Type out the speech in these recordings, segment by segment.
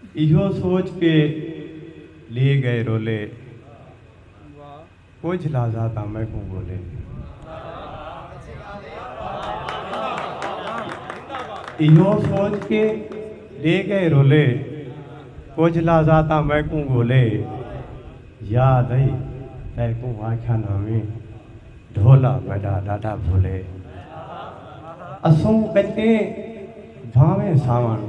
ایہو سوچ کے لیے گئے رولے کجھ لازاں تاں میکوں گولے ایہو سوچ کے لیے گئے رولے کجھ لازاں تاں میکوں گولے یاد ائی تیکوں آکھیا ناویں ڈھولا میڈا ڈاڈا بھولے اسوں کچیں بھانویں ساون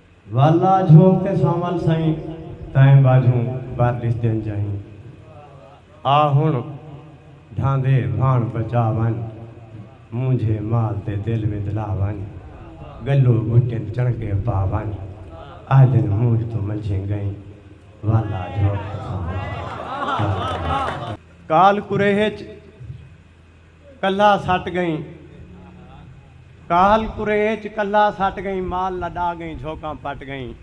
والا جھوک تے سانول سئیں تئیں ٻاجھوں بھر ݙس ݙن جئیں آ ہݨ ڈھاندے بھاݨ بچا ونڄ مونجھے مال تے دل وندلا ونڄ ڳلو ٻٹن چݨکے پا ونڄ آہدن مونجھ توں منجھیں ڳئیں والا جھوک تے سانول سئیں تئیں ٻاجھوں۔ کال کریہہ اچ کلھا سٹ ڳئیں کاہل قریچ کلھا سٹ ڳئیں مال لݙا ڳئیں جھوکاں پٹ ڳئیں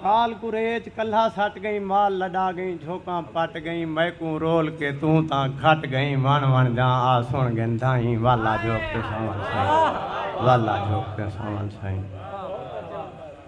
کاہل قریچ کلھا سٹ ڳئیں مال لݙا ڳئیں جھوکاں پٹ ڳئیں میکوں رول کے توں تاں گھٹ ڳئیں وݨ وݨ جاں آ سݨ ڳن دھائیں والا جھوک تے ساوݨ سئیں والا جھوک تے ساوݨ سئیں۔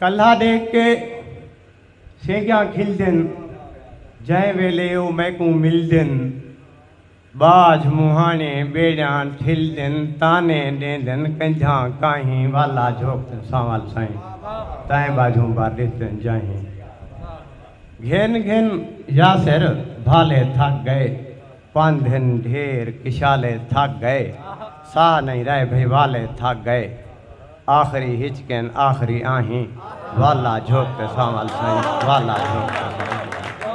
کلھا ڈیکھ کے سینگیاں کھلدن جئیں ویلے او میکوں ملدن باجھ مونہانے بیڑیاں ٹھلدن تانے ڈیندن کنجھاں کاہیں والا جھوکدن سانول سائیں تائیں باجھوں بھر ڈسدن جاہیں گھن گھن یاسر بھالے تھک گئے پندھ ہن ڈھیر کشالے تھک گئے ساہ نئیں رہ بھئی والے تھک گئے آخری ہچکین آخری آہیں والا جھوک تے سانول سائیں والا جھوک تے سانول سائیں۔